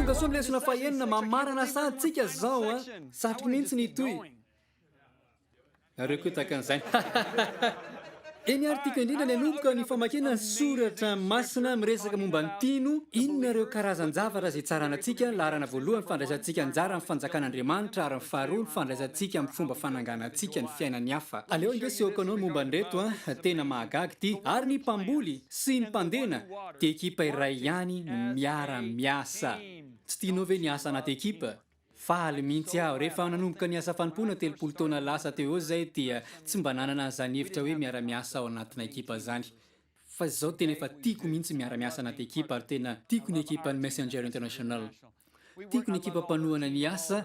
Tongasoa ny lesona fahenina, mamarana sahantsika izao an. Satriko mihitsy ny hitohy. Nareo koa tahaka an'izany. Eny ary tiako indrindra ny hanomboka ny famakiana ny soratra masina miresaka momba ny mpino, inona ireo karazan-javatra izay itsaranantsika, laharana voalohany, fandraisantsika anjara amin'ny fanjakan'Andriamanitra, ary ny faharoa, ny fandraisantsika amin'ny fomba fananganantsika ny fiainan'ny hafa. Aleo ange asehoko anao ny momba an'ireto an, tena mahagaga ity. Ary ny mpamboly sy ny mpandena dia ekipa iray ihany no miara-miasa. Tsy tianao ve ny hiasa anaty ekipa? Faly mihitsy aho. Rehefa nanomboka ny asa fanompoana telopolo taona lasa teo eo izay dia tsy mba nanana an'izany hevitra hoe miara-miasa ao anatina ekipa izany. Fa izao tena efa tiako mihitsy ny miara-miasa anaty ekipa ary tena tiako ny ekipan'ny Messenger International. Tiako ny ekipa mpanohana ny asa,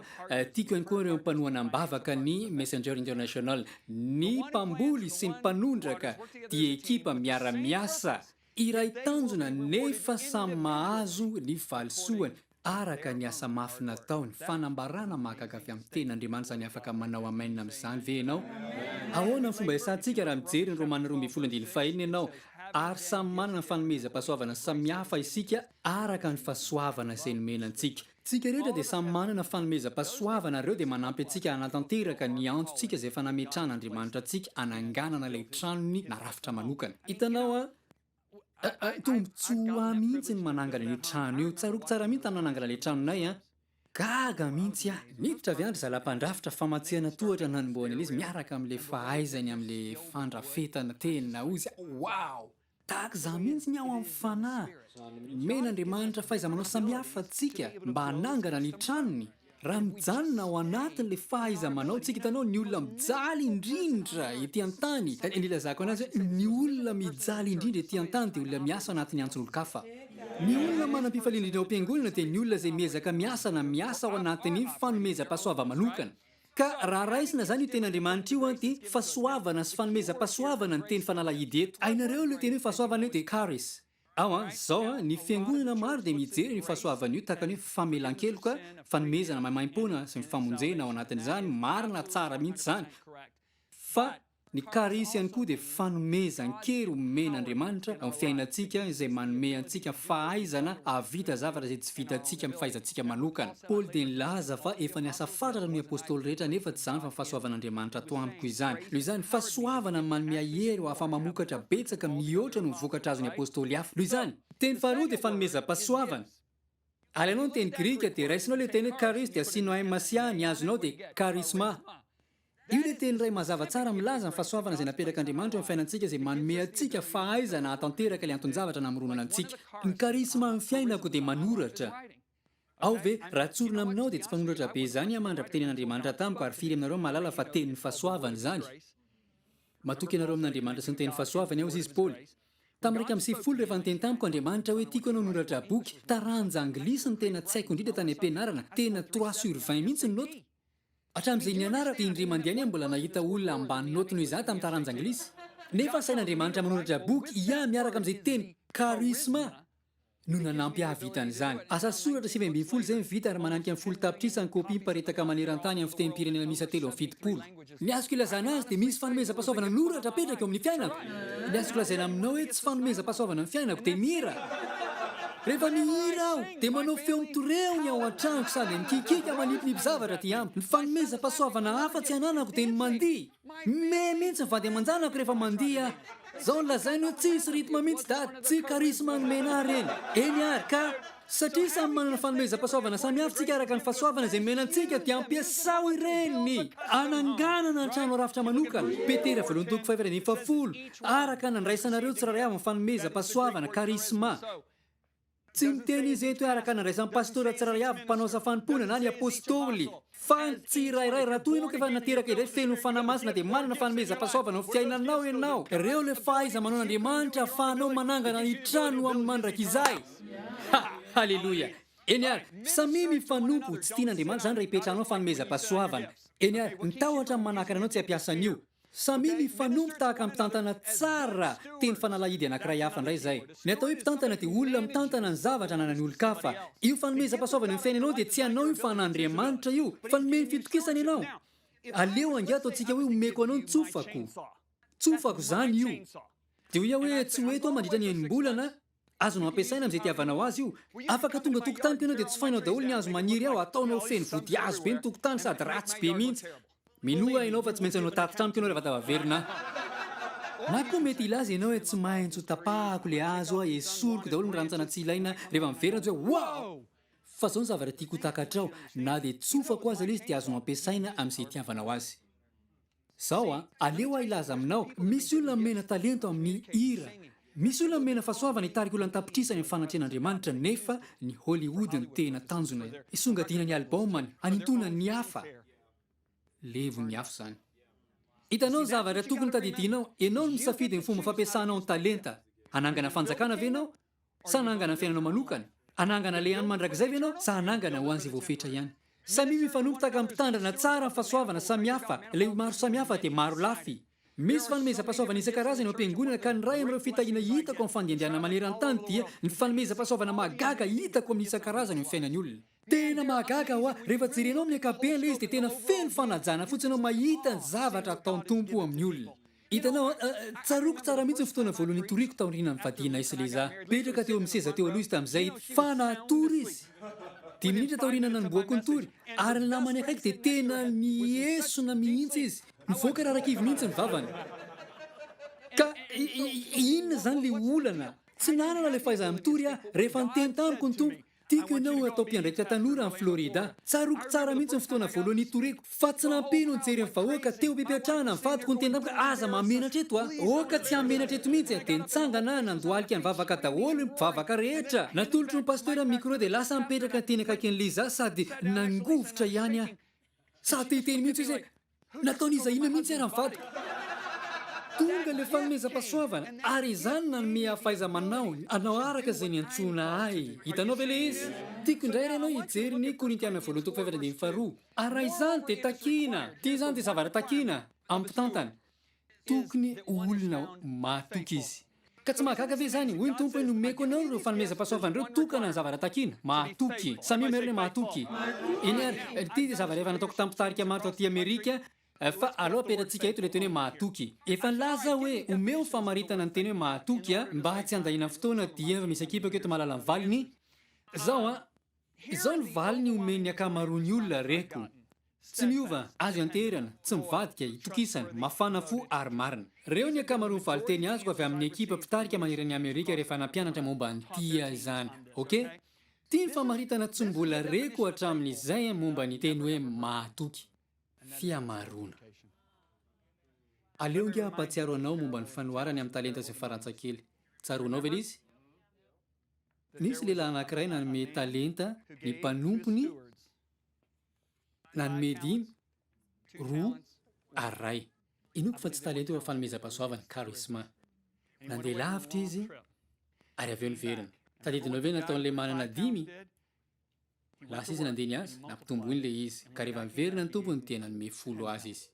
tiako ihany koa ireo mpanohana am-bavaka ny Messenger International. Ny mpamboly sy ny mpanondraka dia ekipa miara-miasa Iray tanjona nefa samy mahazo ny valisoany araka ny asa mafy nataony, fanambarana mahagaga avy amin'ny Teny Andriamanitra izany afaka manao amen amin'izany ve ianao? Ahoana ny fomba iasantsika raha mijery ny Romana roa ambin'ny folo andininy fahenina ianao ary samy manana ny fanomezam-pahasoavana samihafa isika araka ny fahasoavana izay nomena antsika? Tsika rehetra dia samy manana fanomezam-pahasoavana ary ireo dia manampy antsika hanatanteraka ny antontsika izay efa nametrahan' Andriamanitra antsika hananganana ilay tranony na rafitra manokana. Hitanao an? Aah, tombotsoa ho ahy mihitsy ny manangana io trano io. Tsaroako tsara mihitsy tamin'ny nanangana ilay tranonay an. Gaga mihitsy aho. Niditra avy andry zala mpandrafitra famantsihana tohatra nanombohany an'izy miaraka amin'ilay fahaizany amin'ilay fandrafetana tena ozy. Wow! Tahaka izany mihitsy ny ao amin'ny fanahy. Nomen'Andriamanitra fahaiza-manao samihafa antsika mba hanangana ny tranony. Raha mijanona ao anatin'ilay fahaiza-manao tsika, hitanao, ny olona mijaly indrindra ety an-tany, dia nilazako an'azy hoe ny olona mijaly indrindra ety an-tany dia olona miasa ao anatin'ny antson'olon-kafa. Ny olona manam-pifaliana indrindra ao am-piangonana dia ny olona izay miezaka miasa na miasa ao anatin'ny fanomezam-pahasoavam-manokana. Ka raha raisina izany io teny Andriamanitra io an dia fasoavana sy fanomezam-pasoavana ny teny fanalahidy eto. Hainareo ilay teny hoe fasoavana io dia charis. Ao an, zao an, ny fiangonana maro dia mijery an'io fasoavana io tahaka ny hoe famelan-keloka, fanomezana maimaimpoana sy ny famonjena ao anatin'izany, marina, tsara mihitsy izany. Fa. Ny Charis ihany koa dia fanomezan-kery omen'Andriamanitra ao amin'ny fiainantsika izay manome antsika fahaizana hahavita zavatra izay tsy vitantsika amin'ny fahaizantsika manokana. Paoly dia nilaza fa efa niasa fatratra noho ny Apostoly rehetra nefa tsy izany fa ny fahasoavan'Andriamanitra ato amiko izany. Noho izany, fahasoavana manome ahery ho afa-mamokatra betsaka mihoatra noho ny vokatra azon'ny Apostoly hafa. Noho izany, teny faharoa dia fanomezam-pahasoavana. Alainao ny teny grika dia raisinao ilay teny hoe charis dia asianoemmasia ny azonao dia charisma. Io ilay teny iray mazava tsara milaza ny fahasoavana izay napetrak'Andriamanitra eo amin'ny fiainantsika izay manome antsika fahaizana hahatanteraka ilay anton-javatra namoronana antsika. Ny charisma amin'ny fiainako dia manoratra. Ao ve raha tsorina aminao dia tsy mpanoratra be izany aho mandra-pitenin'Andriamanitra tamiko ary firy aminareo mahalala fa tenin'ny fahasoavana izany? Matoky anareo amin'Andriamanitra sy ny tenin'ny fahasoavany aho hoy izy Paoly. Tamin'ny iraika amby sivifolo rehefa niteny tamiko Andriamanitra hoe tiako ianao noratra boky taranja anglisy ny tena tsy haiko indrindra tany am-pianarana, tena trois sur vingt mihitsy ny naoty. Hatramin'izay nianarako dia indray mandeha any aho mbola nahita olona ambany naoty noho izaho tamin'ny taranja anglisy. Nefa asain'Andriamanitra manoratra boky hiahy miaraka amin'izay teny karisma. no nanampy hahavita an'izany. Asa soratra sivy ambin'ny folo izay vita ary mananika ny folo tapitrisa ny kopia miparitaka maneran-tany amin'ny fitenim-pirenena miisa telo amby fitopolo. Ny azoko ilazana azy dia misy fanomezam-pahasoavana noratra apetraka eo amin'ny fiainako. Ny azoko lazaina aminao hoe tsy fanomezam-pahasoavana ny fiainako dia mihira. Rehefa mihira aho dia manao feo mitoreo ny ao an-tranoko sady mikikiaka manipinipy zavatra aty amiko. Ny fanomezam-pahasoavana hafa tsy ananako dia ny mandihy. Me mintsy ny vady aman-janako rehefa mandihy ah! Zao ny lazainy hoe tsisy rythme mintsy dada, tsy charisme anomena ahy reny. Eny ary ka! Satria samy manana ny fanomezam-pahasoavana samihafa tsika araka ny fahasoavana izay nomena antsika dia ampiasao ireny ananganana ny trano rafitra manokana, Petera voalohany toko fahaefatra ambin'ny fahafolo, araka ny nandraisanareo tsirairay avy ny fanomezam-pahasoavana, charisma. Tsy niteny izy eto araka ny andraisan'ny pastora tsirairay avy mpanao asa fanompoana na ny apostoly, fa ny tsirairay. Raha toa ianao ka efa nateraka indray feno ny Fanahy Masina dia manana fanomezam-pahasoavana ao amin'ny fiainanao ianao. Ireo ilay fahaiza-manaon'Andriamanitra ahafahanao manangana ny trano ho amin'ny mandrakizay. Ha! Haleloia! Eny ary, samia mifanompo. Tsy tian'Andriamanitra izany raha ipetrahanao fanomezam-pahasoavana. Eny ary, ny tahotra amin'ny manakana anao tsy hampiasa an'io. Samia mifanompo tahaka ny mpitantana tsara teny fanalahidy anankiray hafa indray izay. Ny atao hoe mpitantana dia olona mitantana ny zavatra ananan'ny olon-kafa. Io fanomezam-pahasoavana eo amin'ny fiainanao dia tsy anao io fa an'Andriamanitra io fa nomeny fitokisana ianao. Aleo angaha ataontsika hoe omeko anao ny tsofako. Tsofako izany io. Dia ho iha hoe tsy ho eto aho mandritra ny enim-bolana. Azonao ampiasaina amin'izay itiavanao azy io. Afaka tonga an-tokontaniko ianao dia tsofainao daholo ny hazo maniry ao, ataonao ho feno vodihazo be ny tokotany sady ratsy be mihitsy. Minoa ahy ianao fa tsy maintsy hanao tatitra amiko ianao rehefa tafaverina aho. Na koa mety hilaza ianao hoe tsy maintsy ho tapahako ilay hazo aho, esoriko daholo ny rantsana tsy ilaina rehefa miverina dia hoe wow! Fa izao ny zavatra tiako ho takatrao, na dia tsofako aza ilay izy dia azonao ampiasaina amin'izay itiavanao azy. Zao a, aleo aho hilaza aminao, misy olona nomena talento amin'ny hira, misy olona nomena fahasoavana hitarika olona an-tapitrisany amin'ny fanatrehan'Andriamanitra nefa ny Hollywood no tena tanjona hisongadiana ny album-ny, hanintoana ny hafa. Levon'ny hafa izany. Hitanao ny zavatra tokony tadidianao, ianao no misafidy ny fomba fampiasanao ny talenta. Hanangana fanjakana ve ianao Sa hanangana fiainanao manokana? Hanangana le any mandrakizay ve ianao sa hanangana ho an'izay voafetra ihany? Samia mifanompy tahaka ny mpitandrina tsara ny fahasoavana samihafa, ilay ho maro samihafa dia maro lafy. Misy fanomezam-pahasoavana isan-karazany ao am-piangonana ka ny iray amin'ireo fitahiana hitako amin'ny fandiandianana maneran-tany dia ny fanomezam-pahasoavana mahagaga hitako amin'ny isan-karazany amin'ny fiainan'ny olona. Tena mahagaga hoa rehefa jerenao amin'ny ankapobeny ilay izy dia tena feno fanajana fotsiny aho mahita ny zavatra ataon'ny Tompo amin'ny olona. Hitanao an, tsaroako tsara mihitsy ny fotoana voalohany nitoriako taoriana nivadianay sy Lisa. Petraka teo amin'ny seza teo aloha izy tamin'izay, fa natory izy. Dimy minitra taoriana nanombohako nitory, ary ny lamany akaiky dia tena miesona mihitsy izy. Nivoaka rarakivy mihitsy ny vavany. Ka inona izany ilay olana? Tsy nanana ilay fahaizana-mitory aho, rehefa niteny tamiko ny Tompo. Tiako ianao hatao mpiandraikitra tanora any Florida. Tsaroako tsara mihitsy ny fotoana voalohany nitoriako fa tsy nampino ny jery ny vahoaka teo am-pipetrahana ny vadiko niteny tamiko hoe aza mahamenatra eto a! Aoka tsy hamenatra eto mihitsy a! Dia nitsangana aho nandohalika nivavaka daholo ny mpivavaka rehetra. Natolotro ny pasitera ny micro dia lasa nipetraka teny akaikin'i Lisa aho sady nangovitra ihany aho. Tsy sahy te hiteny mihitsy hoe. Nataon'iza inona mihitsy ary ny vadiko? Tonga ilay fanomezam-pahasoavana, ary izany nanome ahy fahaiza-manaony hanao araka izay niantsoana ahy. Hitanao ve ilay izy? Tiako indray ary ianao hijery ny Korintiana Voalohany toko fahefatra ambin'ny faharo. Ary raha izany dia takiana, dia izany dia zavatra takiana amin'ny mpitantana. Tokony ho olona mahatoky izy. Ka tsy mahagaga ve izany? Hoy ny Tompo hoe, Nomeko anao ireo fanomezam-pahasoavana ireo, tokana ny zavatra takiana. Mahatoky. Samia mahery ilay mahatoky. Eny ary, ity dia zavatra efa nataoko tamin'ny mpitarika maro taty Amerika, fa aleo apetratsika eto ilay teny hoe mahatoky. Efa nilaza aho hoe, omeo famaritana ny teny hoe mahatoky, mba tsy handaniana fotoana, dia efa misy akipako eto mahalala ny valiny. Izao an. Izao ny valiny omen'ny ankamaroan'ny olona reko, Tsy miova, azo ianteherana, tsy mivadika, itokisana, mafana fo ary marina. Reo ny ankamaroan'ny valinteny azoko avy amin'ny ekipa mpitarika maneran' i Amerika rehefa nampianatra momba ny tia izany. Ok? Ity ny famaritana tsy mbola reko hatramin'izay momba ny teny hoe mahatoky. Fihamaroana. Aleo ange hampahatsiaro anao momba ny fanoharany amin'ny talenta izay farantsakely. Tsaroanao ve ilay izy? Nisy lehilahy anankiray nanome talenta ny mpanompony, nanome dimy, roa, ary iray. Inoako fa tsy talenta io fa fanomezam-pahasoavana, charisma. Nandeha lavitra izy, ary avy eo niverina. Tadidinao ve nataon'ilay manana dimy Lasa izy nandeha niasa, nampitombo iny ilay izy, ka rehefa niverina ny tompony dia nanome folo azy izy.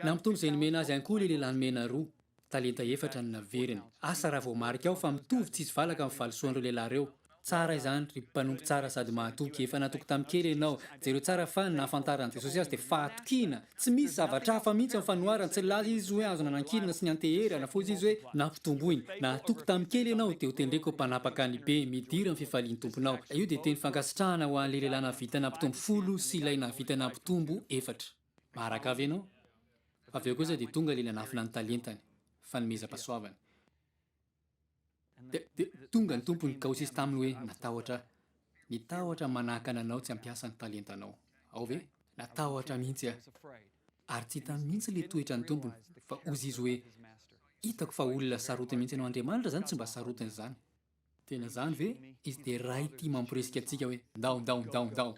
Nampitombo izay nomena azy ihany koa ilay lehilahy nomena roa, talenta efatra no naveriny. Asa raha voamarika ao fa mitovy tsisy valaka ny valisoan'ireo lehilahy ireo. Tsara izany, ry mpanompo tsara sady mahatoky! Efa natoky tamin'ny kely ianao. Jereo tsara fa ny nahafantaran'i Jesosy azy dia fahatokiana! Tsy misy zavatra hafa mihitsy amin'ny fanoharany, tsy nilaza izy hoe azo nanankilina sy nianteherana, fa hoy izy hoe, Nampitomboiny. Nahatoky tamin'ny kely ianao, dia hotendreko ho mpanapaka ny be, midira amin'ny fifalian'ny tomponao. Io dia teny fankasitrahana ho an'ilay lehilahy nahavita nampitombo folo sy ilay nahavita nampitombo efatra. Maharaka ve ianao? Avy eo kosa dia tonga ilay nanafina ny talentany, fanomezam-pahasoavana. Dia tonga ny tompon'ny kaosisy taminy hoe, Natahotra aho. Nitahotra manakana anao tsy hampiasa ny talentanao. Ao ve? Natahotra mihitsy aho. Ary tsy hita mihitsy ilay toetra ny tompony, fa hozy izy hoe, Hitako fa olona sarotiny mihitsy ianao. Andriamanitra izany tsy mba sarotiny izany. Tena izany ve? Izy dia Ray tia mamporisika antsika hoe, Ndao, ndao, ndao, ndao!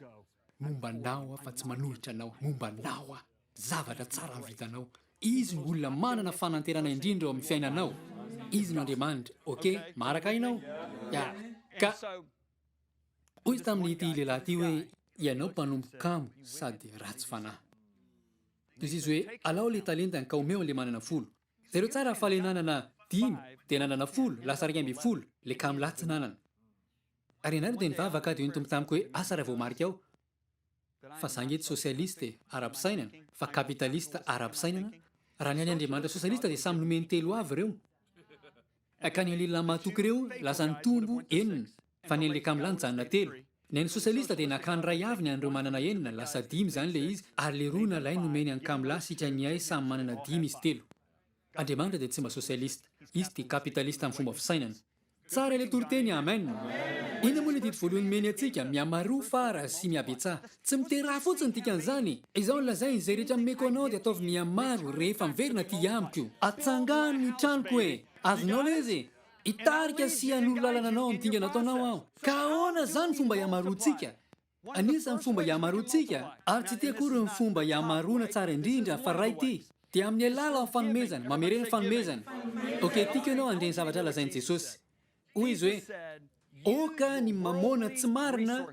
Momba anao aho fa tsy manohitra anao, momba anao aho. Zavatra tsara no vitanao. Izy no olona manana fanantenana indrindra eo amin'ny fiainanao. Izy no Andriamanitra. Ok? Maharaka ahy ianao? Ya. Ka hoy izy tamin'ity lehilahy ity hoe, Ianao mpanompo kamo sady ratsy fanahy. Dia izy hoe, Alao ilay talentany ka omeo an'ilay manana folo. Jereo tsara fa ilay nanana dimy dia nanana folo, lasa iraika ambin'ny folo, ilay kamo lahy tsy nanana. Ary ianareo dia nivavaka dia hoy ny Tompo tamiko hoe asa raha voamarika ao fa za nge tsy sosialiste ara-pisainana fa kapitalista ara-pisainana, raha ny an'Andriamanitra sosialista dia samy nomeny telo avy ireo ka ny an'ilay matoky ireo lasa nitombo enina fa ny an'ilay kamla nijanona telo. Ny an'ny sosialista dia nakà ny iray avy ny an'ireo manana enina, lasa dimy izany ilay izy ary ilay roa na lay nomeny an'i kamla sika ny ay samy manana dimy izy telo. Andriamanitra dia tsy mba sosialista, izy dia kapitalista amin'ny fomba fisainana. Tsara ilay toriteny Amen. Inona moa ilay didy voalohany nomeny antsika, Mihamaro fara sy mihabetsaha. Tsy mitera ahy fotsiny ny dikan'izany e! Izao no lazainy, Izay rehetra nomeko anao dia ataovy mihamaro rehefa miverina aty amiko. Atsangano ny tranoko e! Azonao lay izy e! Hitarika sy hanoro lalana anao amin'ny dingana ataonao aho. Ka ahoana izany fomba ihamaroantsika? Anisan'ny fomba iamaroantsika, ary tsy ity akory ny fomba iamaroana tsara indrindra fa ray ity, dia amin'ny alalan'ny fanomezana, mamerena fanomezana. Ok, tiako ianao handre ny zavatra lazain'i Jesosy. Hoy Izy hoe, Aoka ny mamôna tsy marina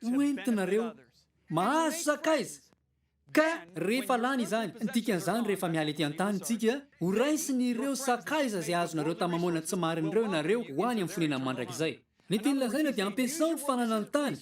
ho entinareo mahazo sakaiza. Ka rehefa lany izany, ny dikan'izany rehefa miala ety an-tany isika, ho raisin'ireo sakaiza izay azonareo tamin'ny mamoana tsy marin'ireo ianareo ho any amin'ny fonenan'ny mandrakizay. Ny tiany lazaina dia ampiasao ny fananan'ny tany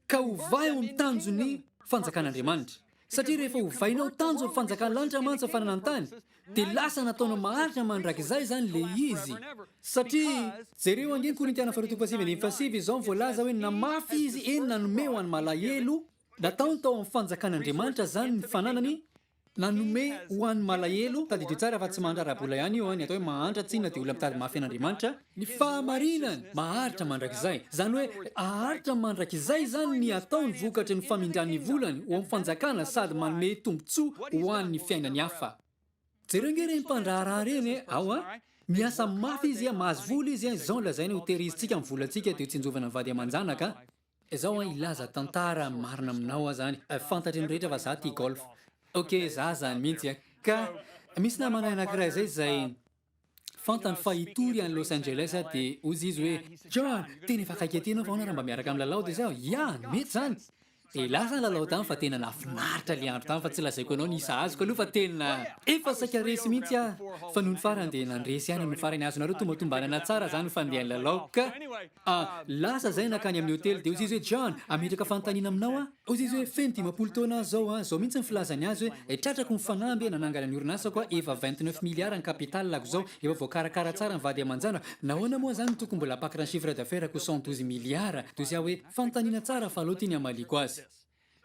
ka ovay ho tanjon'ny fanjakan'Andriamanitra. Satria rehefa ovainao tanjon'ny fanjakan'ny lanitra mantsy ny fananan'ny tany, dia lasa nataonao maharitra mandrakizay izany ilay izy. Satria jereo ange ny Korintiana faharoa toko fahasivy andininy fahasivy izao ny voalaza hoe na mafy izy, eny nanome ho an'ny malahelo, Nataony tao amin'ny fanjakan'Andriamanitra izany ny fananany nanome ho an'ny malahelo, tadidio tsara fa tsy mahantra ara-bola ihany io an, ny atao hoe mahantra tsinona dia olona mitady mafy an'Andriamanitra, ny fahamarinany maharitra mandrakizay, izany hoe haharitra mandrakizay izany ny ataony vokatry ny famindran'ny volany ho amin'ny fanjakana sady manome tombotsoa ho an'ny fiainany hafa. Jereo ange ireny mpandraharaha ireny e, ao a! Miasa mafy izy, mahazo vola izy, izao no lazainy ho tehirizitsika ny volantsika dia ho tsinjovina ny vady aman-janaka. Zao an hilaza tantara marina aminao aza any fantatry ny rehetra fa za tia golf ok za zany mintsy an ka misy namanay anakiray zay zay fantany fa hitory any Los Angeles aho de ozy izy hoe John tena efa akaiky aty anao fa ahoana raha mba miaraka milalao de zao ya mety zany de lasa ny lalao tany fa tena nafinaritra le andro tany fa tsy lazaiko anao ny isa azoko aloha fa tena efa saika resy mintsy aho fa nony farany de nandresy any nony farany azonareo tombatombanana tsara zany fandehan'ny lalao ka A, Lasa zay nakany amin'ny hotely dia hozy izy hoe John, ametraka fanontaniana aminao aho. Hozy izy hoe feno dimampolo taona aho zao an, zao mihitsy ny filazany azy hoe eh, tratrako ny fanamby eh, nanangana ny orinasako aho, efa vingt neuf milliards ny capital-ako zao, efa voakarakara tsara ny vady aman-janako, nahoana moa zany no tokony mbola apakatra ny chiffre d'affaires-ko cent douze milliards? Dia hozy aho hoe, fanontaniana tsara fa aleo ity ny hamaliako azy.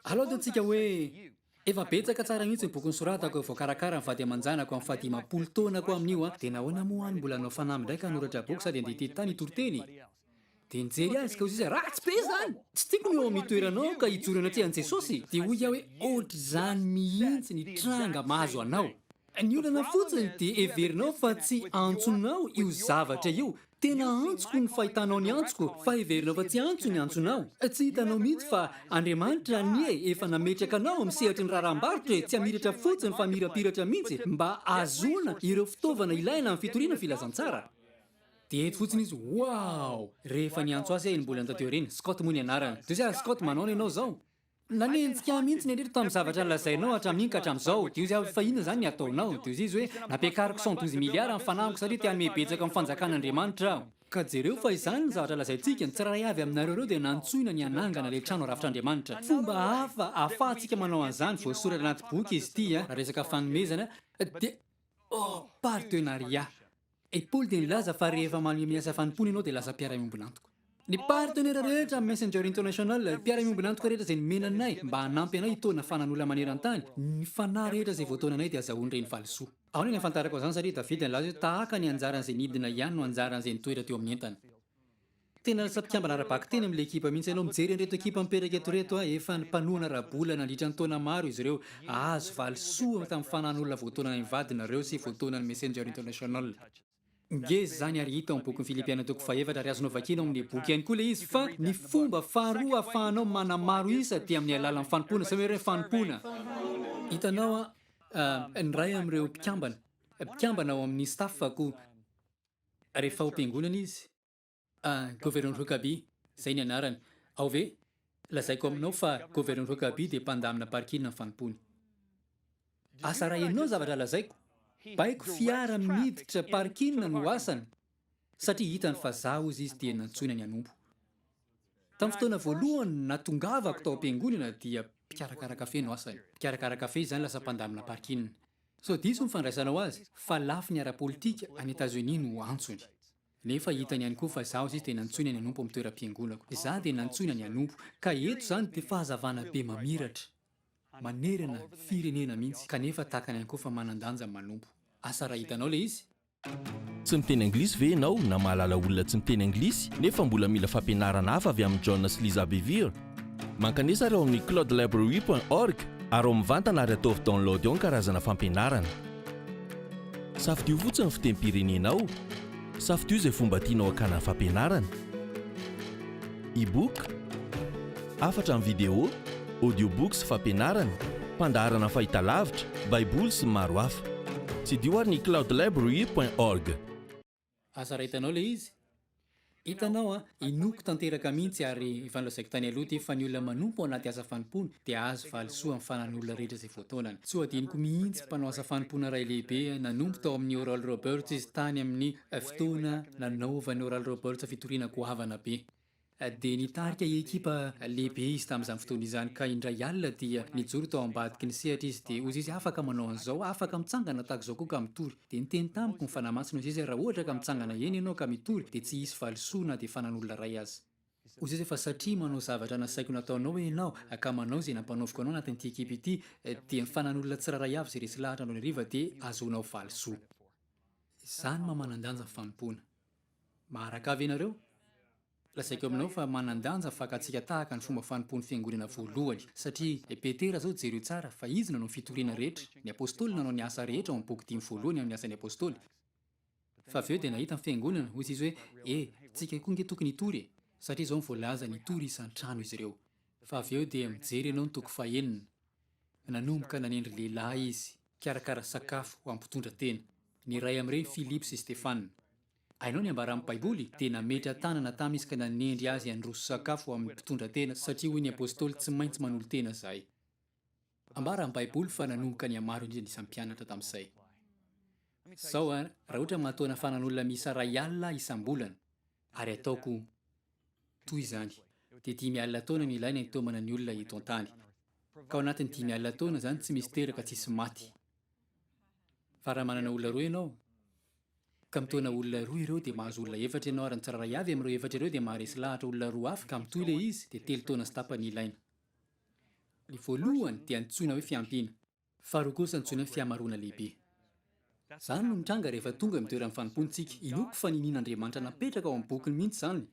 Alao dia antsika hoe. Efa betsaka tsara mihitsy ny boky nosoratako vao karakara ny vady aman-janako amin'ny faha dimampolo taonako amin'io an! Dia nahoana moa any mbola hanao fanamby indray ka hanoratra boky sady handeha tety tany hitoriteny e! Dia nijery azy ka hoy sisa ratsy be izany! Tsy tiako ny eo amin'ny toeranao ka hijoro eny an-tsehan'i Jesosy! Dia hoy aho hoe ohatr'izany mihitsy ny tranga mahazo anao! Ny olana fotsiny dia heverinao fa tsy antsonao io zavatra io. Tena antsoko ny fahitanao ny antsoko fa heverinao fa tsy antso ny antsonao. Tsy hitanao mihitsy fa Andriamanitra anie efa nametraka anao amin'ny sehatry ny raharaham-barotra e, tsy hamiratra fotsiny fa mirapiratra mihitsy mba hahazoana ireo fitaovana ilaina amin'ny fitoriana filazantsara. Dia eto fotsiny izy, wow! rehefa niantso azy aho iny mbola tanteo ireny, Scott moa ny anarany. Dia hoy aho, Scott, manao ny anao izao? Nanenjika ahy mihitsy ny Andriatrao tamin'ny zavatra nolazainao hatramin'iny ka hatramin'izao. Dia hoy izy, ary fa inona izany ny hataonao? Dia hoy izy hoe, nampiakariko cent douze milliards ny fanahiko satria te hanome betsaka amin'ny fanjakan'Andriamanitra aho. Ka jereo fa izany ny zavatra lazaintsika, ny tsirairay avy aminareo ireo dia nantsoina ny hanangana ilay trano rafitr'Andriamanitra. Fomba hafa ahafahantsika manao an'izany, voasoratra anaty boky izy ity, raha resaka fanomezana dia, oh, partenariat. I Paoly dia nilaza fa rehefa manome milaza fanompoana ianao dia lasa mpiara-miombon'antoka. Ny partenera rehetra amin'ny Messenger International, mpiara-miombon'antoka rehetra izay nomena anay mba hanampy anay hitaona fanan'olona maneran-tany, ny fanahy rehetra izay voataonanay dia azahoany ireny valisoa. Ahoana no ahafantarako an'izany? Satria Davida nilaza hoe, Tahaka ny anjaran'izay nidina ihany no anjaran'izay nitoetra teo amin'ny entana. Tena lasa mpikambana ara-bakiteny amin'ilay ekipa mihitsy ianao. Mijery an'ireto ekipa mipetraka eto ireto aho. Efa nimpanohana ara-bola nandritra ny taona maro izy ireo. Hahazo valisoa tamin'ny fanahin'olona voataona any mivady nareo sy voataona ny Messenger International. Ngeza izany ary hita ao amin'ny bokin'i Filipiana toko fahefatra ary azonao vakiana ao amin'ny boky ihany koa ilay izy. Fa ny fomba faharoa ahafahanao manamaro isa dia amin'ny alalan'ny fanompoana. Izany hoe fanompoana. Hitanao an, ny iray amin'ireo mpikambana, mpikambana ao amin'ny staff-ko, rehefa ao am-piangonana izy, Ah, Governor Huckabee, zay ny anarany. Ao ve? Lazaiko aminao fa Governor Huckabee dia mpandamina barik'inona ny fanompoany. Asa raha henonao ny zavatra lazaiko, baiko fiara miditra park'inona no asany, satria hitany fa za hozy izy dia nantsoina ny hanompo. Tamin'ny fotoana voalohany natongavako tao am-piangonana dia mpikarakara kafe no asany. Mpikarakara kafe izany lasa mpandamina park'inona. So diso ny fandraisanao azy fa lafiny ara-politika any Etazonia no antsony. Nefa hitany ihany koa fa izaho izay dia nantsoina ny hanompo amin'ny toeram-piangonako. Izaho dia nantsoina ny hanompo. Ka eto izany dia fahazavana be mamiratra. Manerana firenena mihitsy. Kanefa takany ihany koa fa manan-danja ny manompo. Asa raha hitanao ilay izy? Tsy miteny anglisy ve ianao na mahalala olona tsy miteny anglisy nefa mbola mila fampianarana hafa avy amin'i John sy Lisa Bevere? Mankanesa ary ao amin'ny cloudlibrary point org ary ao mivantana ary ataovy download ao ny karazana fampianarana. Safidio fotsiny ny fitempirenenao. Safidio izay fomba tianao hakana ny fampianarana. E-book, hafatra amin'ny video, audiobooks, fampianarana, mpandaharana fahitalavitra, baiboly sy ny maro hafa. Tsidiho ary ny cloudlibrary point org. Aza raitanao le izy. Hitanao an, inoako tanteraka mihintsy ary efa nolazaiko tany aloha ity fa ny olona manompo anaty asa fanompoana dia hahazo valisoa amin'ny fanan'ny olona rehetra izay voataonany. Tsy ho adinoko mihintsy mpanao asa fanompoana iray lehibe nanompo tao amin'ny Oral Roberts izy tany amin'ny fotoana nanaovan'i Oral Roberts fitoriana goavana be. dia nitarika ekipa lehibe izy tamin'izany fotoana izany ka indray alina dia nijoro tao ambadiky ny sehatra izy dia hozy izy afaka manao an'izao afaka mitsangana tahaka izao koa ka mitory dia niteny tamiko ny fanahy masina hozy izy raha ohatra ka mitsangana eny ianao ka mitory dia tsy hisy valisoa na dia fanan'olona iray aza hozy izy fa satria manao zavatra nasaiko nataonao ianao ka manao izay nampanaoviko anao anatin'ity ekipa ity dia ny fanan'olona tsirairay avy izay resy lahatra andro hariva dia ahazoanao valisoa izany maha manan-danja ny fanompoana. Maharakà ve ianareo? Lazaiko aminao fa manan-danja fakatsika tahaka ny fomba fanompoan'ny fiangonana voalohany. Satria i Petera izao, jereo tsara, fa izy nanao ny fitoriana rehetra. Ny apostoly nanao ny asa rehetra ao amin'ny boky dimy voalohany amin'ny Asan'ny Apostoly. Fa avy eo dia nahita ny fiangonana, hoy izy hoe, E, tsika koa ange tokony hitory e! Satria izao no voalazany, hitory isan-trano izy ireo. Fa avy eo dia mijery ianao ny toko fahenina. Nanomboka nanendry lehilahy izy hikarakara sakafo ho an'ny mpitondra tena, ny iray amin'ireny Philip sy Stefan. Hainao ny ambaran'ny Baiboly? Dia nametra-tanana tamy izy ka nanendry azy handroso sakafo ho amin'ny mpitondra tena, satria hoy ny apostoly, Tsy maintsy manolo-tena izahay. Ambara amin'ny Baiboly fa nanomboka nihamaro indrindra ny isan'ny mpianatra tamin'izay. Izao, raha ohatra matoa nafana an'olona miisa iray alina isam-bolana, ary ataoko Toy izany, dia dimy alina taona no ilaina hitaomana ny olona eto an-tany. Ka ao anatin'ny dimy alina taona izany tsy misy teraka tsy hisy maty. Fa raha manana olona roa ianao, ka mitaona olona roa ireo, dia mahazo olona efatra ianao, ary ny tsirairay avy amin'ireo efatra ireo dia maharesy lahatra olona roa hafa, ka mitohy ilay izy, dia telo taona sy tapany ilaina. Ny voalohany dia antsoina hoe fiampiana. Faharoa kosa antsoina hoe fihamaroana lehibe. Izany no mitranga rehefa tonga eo amin'ny toeran'ny fanompoantsika. Inoako fa ninian'Andriamanitra napetraka ao amin'ny bokiny mihitsy izany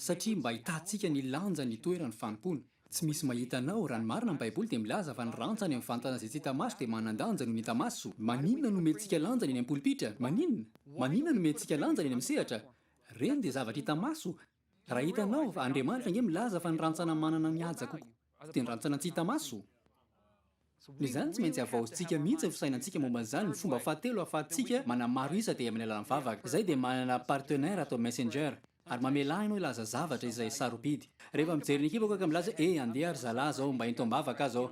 satria mba ahitantsika ny lanjan'ny toeran'ny fanompoana. Tsy misy mahita anao, raha ny marina ny Baiboly dia milaza fa ny rantsany amin'ny fahantana izay tsy hita maso dia manan-danja noho ny hita maso. Maninona no omentsika lanjany eny am-polipitra? Maninona? Maninona no omentsika lanjany eny amin'ny sehatra? Ireny dia zavatra hita maso. Raha hitanao, Andriamanitra ange milaza fa ny rantsana manana ny haja kokoa dia ny rantsana tsy hita maso. Izany tsy maintsy havaozintsika mihitsy ny fisainantsika momba an'izany. Ny fomba fahatelo ahafahantsika manamaro isa dia amin'ny alalan'ny vavaka. Izay dia manana partenaire atao messenger ary mamelà ianao hilaza zavatra izay sarobidy. Rehefa mijery ny ekipako aho ka milaza, eh, andeha ry zalahy izao, mba ento am-bavaka aho izao.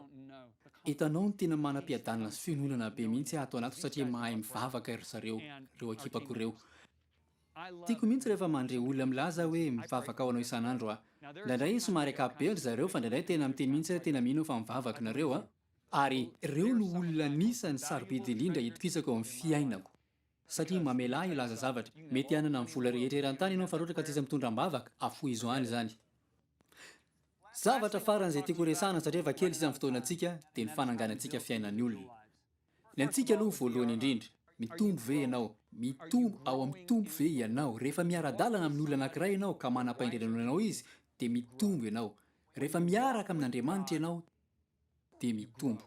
Hitanao, ny tena manam-piadanana sy fiononana be mihitsy ato anaty satria mahay mivavaka ry zareo, ireo ekipako ireo. Tiako mihitsy rehefa mandre olona milaza hoe mivavaka ho anao isan'andro aho. Indraindray somary ankapobeny ry zareo fa indraindray tena miteny mihitsy hoe tena mino aho fa mivavaka nareo a! Ary ireo no olona anisan'ny sarobidy indrindra itokisako eo amin'ny fiainako. Satria mamela ahy hilaza zavatra. Mety hanana ny vola rehetra eran-tany ianao fa raha ohatra ka tsisy mitondra am-bavaka, afohizo any izany. Zavatra farany izay tiako horesahana satria efa kely sisa ny fotoanantsika dia ny fananganantsika fiainan'ny olona. Ny antsika aloha voalohany indrindra, mitombo ve ianao? Mitombo ao amin'ny Tompo ve ianao? Rehefa miara-dalana amin'ny olona anankiray ianao ka manam-pahendrena noho anao izy, dia mitombo ianao. Rehefa miaraka amin'Andriamanitra ianao, dia mitombo.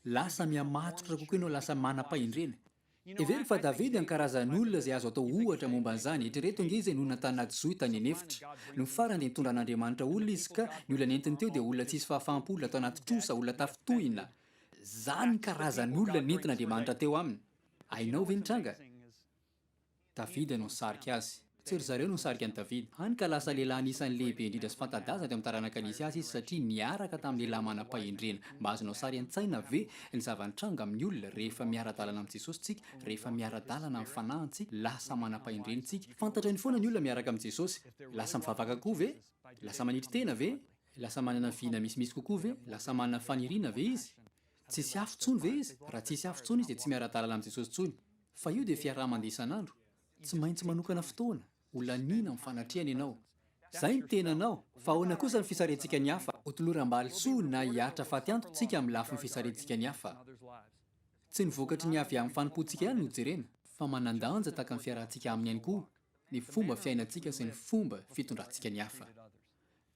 Lasa mihamatotra kokoa ianao, lasa manam-pahendrena. Hevero fa Davida ny karazan'olona izay azo atao ohatra momba an'izany. Eritrereto ange izy no nantanina johy tany an'efitra. Nony farany dia nitondra an'Andriamanitra olona izy, ka ny olona nentiny teo dia olona tsy hisy fahafahampo, olona tao anaty trosa, olona tafintohina. Zany karazan olona nentin Andriamanitra teo aminy, hainao ve ny tranga? Davida no nisarika azy. Tsy ry zareo no nisarika an'i Davida. Hany ka lasa lehilahy anisan'ny lehibe indrindra sy fanta-daza teo amin'ny taranaka nisy azy izy satria niaraka tamin'ny lehilahy manam-pahendrena. Mba azonao sary an-tsaina ve ny zava-nitranga amin'ny olona rehefa miara-dalana amin'i Jesosy isika, rehefa miara-dalana amin'ny Fanahy ntsika, lasa manam-pahendrena isika. Fantatrany foana ny olona miaraka amin'i Jesosy. Lasa mivavaka koa ve? Lasa manetry tena ve? Lasa manana vina misimisy kokoa ve? Lasa manana faniriana ve izy? Tsisy afo tsony ve izy? Raha tsisy afo tsony izy dia tsy miara-dalana amin'i Jesosy tsony. Fa io dia fiaraha-mandeha isan'andro. Tsy maintsy manokana fotoana ho laniana amin'ny fanatrehana ianao. Izay ny tenanao. Fa ahoana kosa ny fisarihantsika ny hafa? Hotoloram-balo soa na hiaritra faty antoka tsika amin'ny lafiny fisarihantsika ny hafa. Tsy ny vokatry ny avy amin'ny fanompoantsika ihany no jerena, fa manan-danja tahaka ny fiarahantsika aminy ihany koa ny fomba fiainantsika sy ny fomba fitondrantsika ny hafa.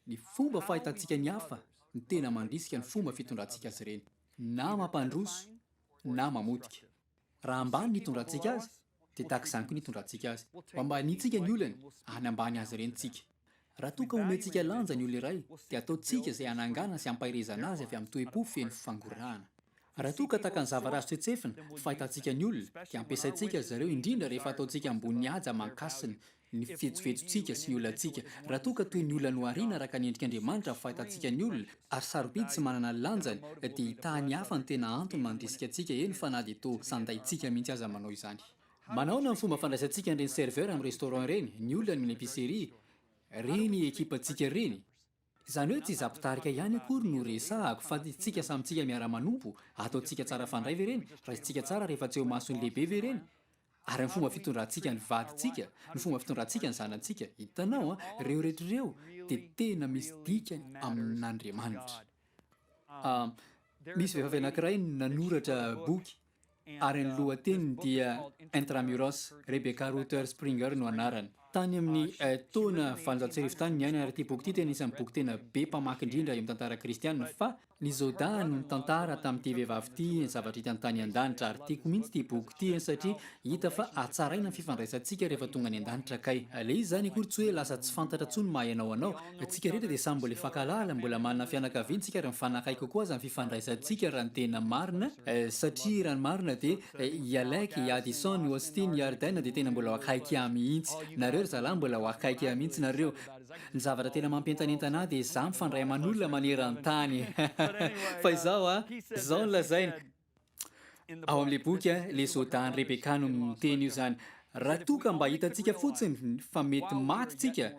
Ny fomba fahitantsika ny hafa no tena mandrisika ny fomba fitondrantsika azy ireny, na mampandroso na mamotika. Raha ambany ny hitondrantsika azy, dia tahaka izany koa ny hitondrantsika azy. Ho ambaniantsika ny olany, any ambany azy ireny tsika. Raha toa ka omentsika lanja ny olona iray, dia ataontsika izay hananganana sy hampaherezana azy avy amin'ny toe-po feno fangorahana. Raha toa ka tahaka ny zavatra azo tsetsefin'ny fahitantsika ny olona, dia ampiasaintsika azy ireo, indrindra rehefa ataontsika ambony haja aman-kasina ny fihetsohetsotsika sy ny olantsika, raha toa ka toy ny olona nohariana araka ny endrik'Andriamanitra ny fahitantsika ny olona, ary sarobidy tsy manana ny lanjany, dia hitahan'ny hafa ny tena antony mandrisika antsika, eny fa na dia toa sandaintsika mihitsy aza manao izany. Manahoana ny fomba fandraisantsika an'ireny serveur amin'ny restaurant ireny, ny olona any amin'ny epicerie, ireny ekipantsika ireny? Izany hoe tsy izaho mpitarika ihany akory no resahako fa isika samy tsika miara-manompo, ataontsika tsara fandray ve ireny, raisintsika tsara rehefa tsy eo mason'ny lehibe ve ireny? Ary amin'ny fomba fitondrantsika ny vadintsika, ny fomba fitondrantsika ny zanantsika, hitanao an, ireo rehetra ireo dia tena misy dikany amin'Andriamanitra. Misy vehivavy anankiray nanoratra boky ary ny lohateniny dia Intramuros, Rebecca Rutter Springer no anarany. Tany amin'ny taona valonjato sy arivo tany niainana ary ity boky ity dia anisan'ny boky tena be mpamaky indrindra eo amin'ny tantara kristiana fa ny Zoda no nitantara tamin'ity vehivavy ity ny zavatra hitany tany an-danitra ary tiako mihitsy ity boky ity satria hita fa hatsaraina ny fifandraisantsika rehefa tonga any an-danitra kay le izy izany akory tsy hoe lasa tsy fantatra intsony maha ianao anao Tsika rehetra dia samy mbola hifankahalala, mbola manana fianakaviana tsika ary mifanakaiky kokoa aza ny fifandraisantsika raha ny tena marina, satria raha ny marina dia i Alec, i Addison, i Austin, i Arden dia tena mbola akaiky ahy mihitsy, nareo ry zalahy mbola ho akaiky ahy mihitsy nareo, ny zavatra tena mampientanentana ahy dia izaho mifandray aman'olona maneran-tany fa izao an, izao no lazaina. Ao amin'ilay boky, ilay zodan'i Rebekah no miteny io izany. Raha toa ka mba hitantsika fotsiny fa mety maty isika,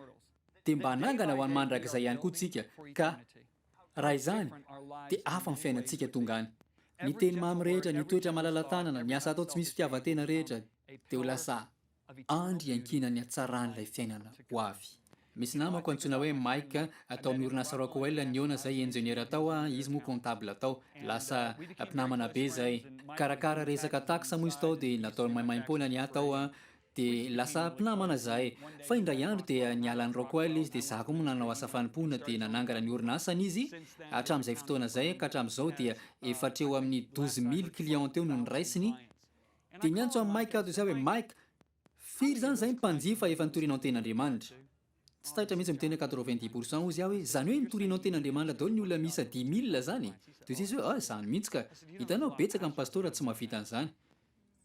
dia mba hanangana ho any mandrakizay ihany koa isika, ka raha izany, dia hafa ny fiainantsika tonga any. Ny teny mamy rehetra, ny toetra malala-tanana, ny asa atao tsy misy fitiavan-tena rehetra, dia ho lasa Andry iankinan'ny hatsaran'ilay fiainana ho avy. Misy namako antsoina hoe Mike tao amin'ny orinasa Rockwell nihaona zay ingeniera tao ah, izy moa comptable tao. Lasa mpinamana be zay. Karakara resaka taxe moa izy tao dia nataony maimaimpoana ny ahy tao ah, dia lasa mpinamana zahay. Fa indray andro dia niala an'i Rockwell izy dia za koa moa nanao asa fanompoana dia nanangana ny orinasany izy. Hatramin'izay fotoana zay ka hatramin'izao dia efa hatreo amin'ny douze mille clients teo no noraisiny. Dia niantso an'i Mike aho toy izay hoe, Mike, firy izany izay mpanjifa efa nitoriana ny Tenin'Andriamanitra? Tsy taitra mihitsy miteny hoe quatre-vingt-dix pour cent hozy aho hoe, izany hoe nitoriana ny Tenin'Andriamanitra daholo ny olona miisa dix mille izany e! Toy izay izy hoe, ah, izany mihitsy ka! Hitanao, betsaka ny pastora tsy mahavita an'izany.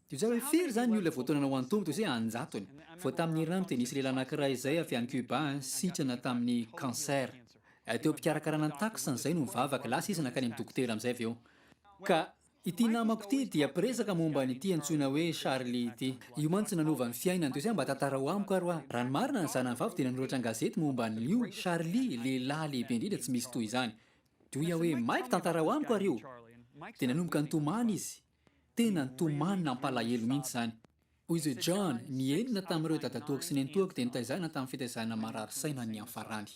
Toy izay hoe, firy izany ny olona voatonana ho an'ny Tompo? Toy izay hoe, an-jatony. Vao tamin'ny herinandro dia nisy lehilahy anankiray izay avy any Cuba, sitrana tamin'ny cancer. Teo am-pikarakarana ny tacos an'izay no nivavaka, lasa izy nankany amin'ny dokotera amin'izay avy eo. Ka. Ity namako ity dia mpiresaka momba an'ity antsoina hoe Charlie ity. Io mantsy nanova ny fiainany teo zay mba tantarao amiko ary hoa. Raha ny marina ny zanany vavy dia nanoratra an-gazety momba an'io Charlie lehilahy lehibe indrindra tsy misy toy izany. Dia hoy aho hoe maika tantarao amiko ary io. Dia nanomboka nitomany izy. Tena nitomany nampalahelo mihitsy izany. Hoy izy hoe John, ny enina tamin'ireo dadatoako sy nenitoako dia nitaizana tamin'ny fitaizana marary saina niafarany.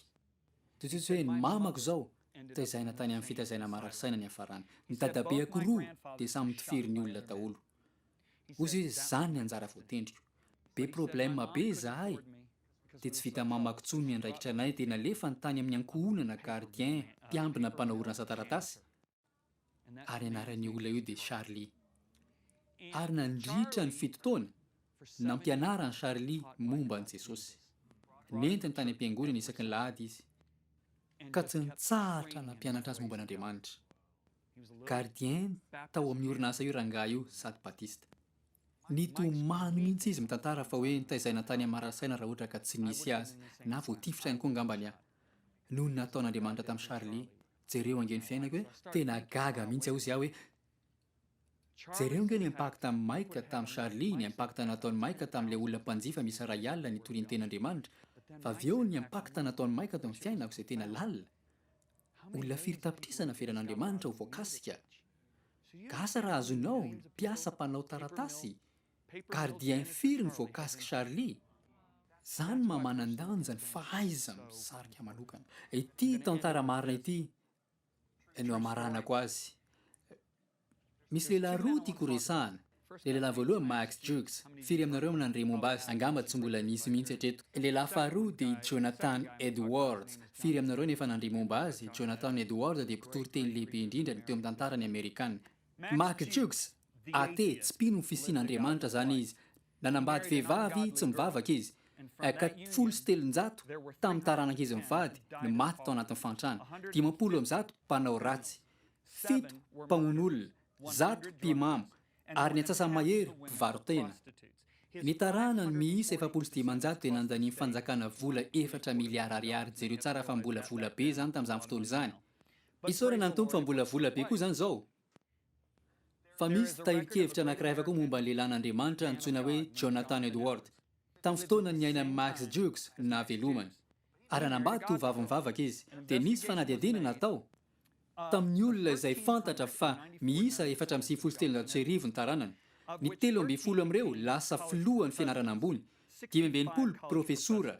Totohiziko hoe ny mamako izao tezaina tany amin'ny fitazaina marasaina niafarany. Ny dadabeako roa dia samy mtifiry ny olona daholo. Hozy hoe izany ny anjara voatendriko. Be problème be izahay dia tsy vita mamako intsony ny andraikitra anay dia nalefany tany amin'ny ankohonana gardien mpiambina mpanao orinasa taratasy. ary anaran'io olona io dia Charlie. Ary nandritra ny fito taona, nampianaran'i Charlie momba an'i Jesosy. Nentiny tany am-piangonana isaky ny lahady izy, ka tsy nitsahatra nampianatra azy momba an'Andriamanitra. Gardien tao amin'io orinasa io rangahy io sady Batista. Nitomany mihitsy izy mitantara fa hoe nitaizaina tany Hamarasaina raha ohatra ka tsy nisy azy, na voatifitra ihany koa angambany aho, noho ny nataon'Andriamanitra tamin'i Charlie. Jereo ange ny fiainako e, tena gaga mihintsy aho zia hoe Jereo ange ny impact an'i Mike tamin'i Charlie, ny impact nataon'i Mike tamin'ilay olona mpanjifa misy iray alina nitoriany teny Andriamanitra, fa avy eo ny impact nataon'i Mike ato amin'ny fiainako izay tena lalina. Olona firy tapitrisa navelan'Andriamanitra ho voakasika? Gasa raha azonao ny mpiasa mpanao taratasy Gardien firy ny voakasik'i Charly? Zany maha manandanja ny fahaiza misarika manokana. Ity tantara marina ity no amaranako azy. Misy lehilahy roa tiako horesahana. Ilay lehilahy voalohany Max Jukes, firy aminareo no nandre momba azy? Angamba tsy mbola nisy mihitsy hatreto. Ilay lehilahy faharoa dia i Jonathan Edwards, firy aminareo no efa nandre momba azy? Jonathan Edwards dia mpitoriteny lehibe indrindra teo amin'ny tantaran'ny Amerikana. Max Jukes, AT, Tsy mpino ny fisian'Andriamanitra izany izy. Nanambady vehivavy tsy mivavaka izy. HK, Folo sy telonjato tamin'ny taranak'izy mivady no maty tao anatin'ny fahantrana. Dimampolo amby zato mpanao ratsy. Fito mpamono olona. Zato mpimamo. Ary ny antsasa-mahery mpivaro-tena. Ny taranany miisa efapolo sy dimanjato dia nandanian'ny fanjakana vola efatra miliara ariary. Jereo tsara fa mbola vola be izany tamin'izany fotoana izany. Isaorana ny Tompo fa mbola vola be koa izany izao. Fa misy tahirin-kevitra anankiray hafa koa momba ny lehilahin'Andriamanitra antsoina hoe Jonathan Edward. Tamin'ny fotoana niainan'i Max Jukes no nahavelomany. Ary hanambady tovovavy mivavaka izy. Dia nisy fanadihadiana natao tamin'ny olona izay fantatra fa miisa efatra amby sivifolo sy telonjato sy arivo ny taranany. Ny telo ambin'ny folo amin'ireo lasa filohan'ny fianarana ambony, dimy amby enimpolo profesora,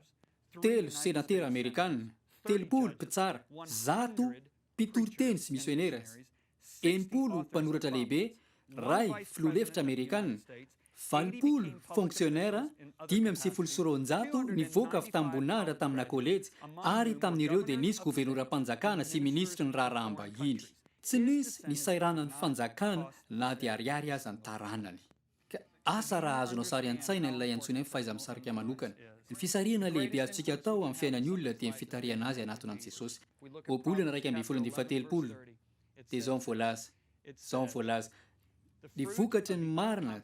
telo senatera amerikana, telopolo mpitsara, zato Mpitoriteny sy misionera izy. Enimpolo mpanoratra lehibe, ray filoha lefitra amerikana, valopolo fonksionera, dimy amby sivifolo sy roanjato nivoaka avy tamim-boninahitra tamina kôlejy, ary tamin'ireo dia nisy governoram-panjakana sy minisitry ny raharaham-bahiny. Tsy nisy nisairana ny fanjakana na dia ariary aza ny taranany. Ka asa raha azonao sary an-tsaina ilay antsoina hoe fahaiza-misarika manokana. Ny fisarihana lehibe azontsika atao amin'ny fiainan'ny olona dia ny fitarihana azy hanatona an'i Jesosy. Ohabolana iraika ambin'ny folo amby fahatelopolo, dia izao no voalaza, izao no voalaza, Ny vokatry ny marina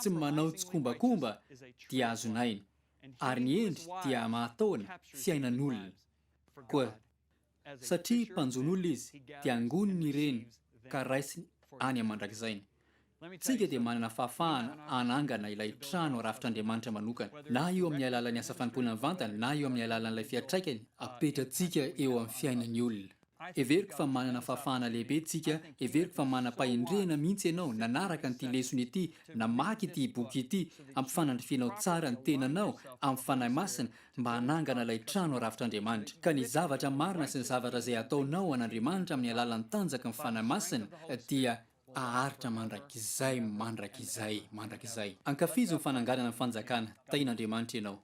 tsy manao tsikombakomba dia azon'ny aina, ary ny hendry dia mahataona fiainan'olona. Koa. Satria mpanjono-olona izy, dia angoniny ireny ka raisiny any aman-drakizainy. Tsika dia manana fahafahana hanangana ilay trano arafitr'Andriamanitra manokana, na io amin'ny alalan'ny asa fanompoana mivantana na io amin'ny alalan'ilay fiantraikany apetratsika eo amin'ny fiainan'ny olona. Heveriko fa manana fahafahana lehibe tsika, heveriko fa manam-pahendrena mihitsy ianao nanaraka an'ity lesona ity, namaky ity boky ity, ampifanandrifianao tsara ny tenanao amin'ny Fanahy Masina mba hanangana ilay trano arafitr'Andriamanitra, ka ny zavatra marina sy ny zavatra izay ataonao ho an'Andriamanitra amin'ny alalan'ny tanjaky ny Fanahy Masina dia haharitra mandrakizay mandrakizay mandrakizay. Ankafizo ny fananganana ny fanjakana tahin'Andriamanitra ianao.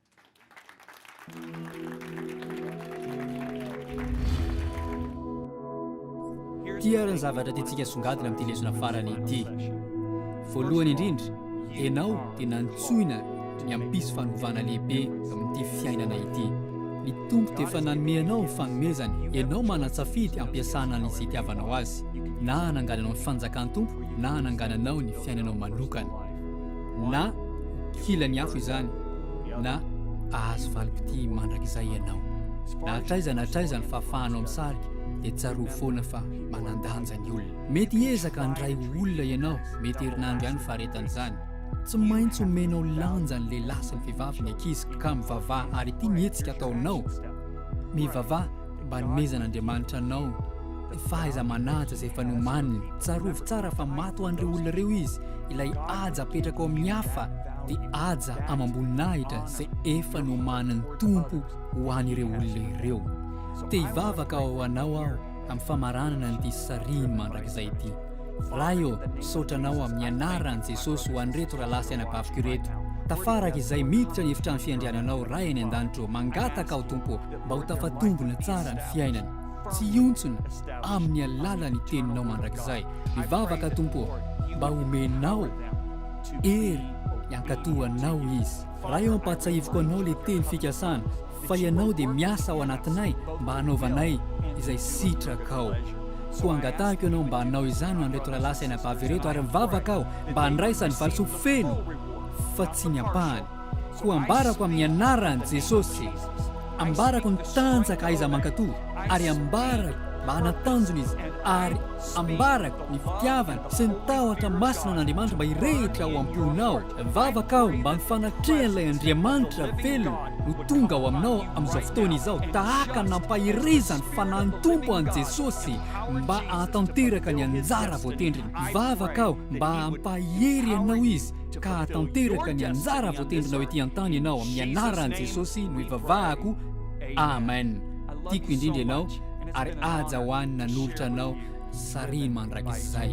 Ity ary ny zavatra tiantsika songadina amin'ity lesona farany ity. Voalohany indrindra, ianao dia nantsoina ny hampisy fanovana lehibe amin'ity fiainana ity. Ny Tompo dia efa nanome anao fanomezana, ianao manan-tsafidy hampiasana an'izay itiavanao Azy, na hanangananao ny fanjakan'ny Tompo na hanangananao ny fiainanao manokana. Na ho kilan'ny afo izany, na hahazo valim-pitia mandrakizay ianao. Na hatraiza na hatraiza ny fahafahanao misarika, dia tsarovy foana fa manan-danja ny olona. Mety hiezaka handray ho olona ianao, mety herinandro ihany ny faharetan'izany. Tsy maintsy omenao lanja ny lehilahy sy ny vehivavy ny ankizy ka mivavaha ary ity ny hetsika ataonao, mivavaha. Mba anomezan'Andriamanitra anao fahaiza-manaja izay efa nomaniny. Tsarovy tsara fa maty ho an'ireo olona ireo izy. Ilay haja apetraka ao amin'ny hafa dia haja amam-boninahitra izay efa nomanin'ny Tompo ho an'ireo olona ireo. Te hivavaka ho anao aho amin'ny famaranana an'ity sariny mandrakizay ity. Ray ô, misaotra anao amin'ny anaran'i Jesosy ho an'ireto rahalahy sy anabaviko ireto. Tafaraka izay miditra ny efitrano fiandriananao Ray any an-danitra ô, mangataka aho Tompo ô. mba ho tafatombina tsara ny fiainany. Tsy hiontsona amin'ny alalan'ny teninao mandrakizay. Mivavaka Tompo ô, mba homenao hery hiankato anao izy. Ray ô ampahatsahiviko anao le teny fikasana fa ianao dia miasa ao anatinay mba hanaovanay izay sitrakao. Koa angatahiko ianao mba hanao izany ho an'ireto rahalahy sy anabavy ireto ary mivavaka aho mba handraisany valisoa feno fa tsy ny ampahany. Koa ambarako amin'ny anaran'i Jesosy, ambarako ny tanjaka aiza mankato, ary ambarako mba hanatanjona izy, ary ambarako ny fitiavana sy ny tahotra masina an'Andriamanitra mba hirehitra ao am-ponao. Mivavaka aho mba ny fanatrehan'ilay Andriamanitra velona ho tonga ao aminao amin'izao fotoana izao, tahaka ny nampaherezan'ny Fanahin'ny Tompo an'i Jesosy mba hahatanteraka ny anjara voatendriny. Mivavaka aho mba hampahery anao Izy, ka hahatanteraka ny anjara voatendrinao ety an-tany ianao amin'ny anaran'i Jesosy no ivavahako amen tiako indrindra ianao ary aja ho any nanolotra anao sariny mandrakizay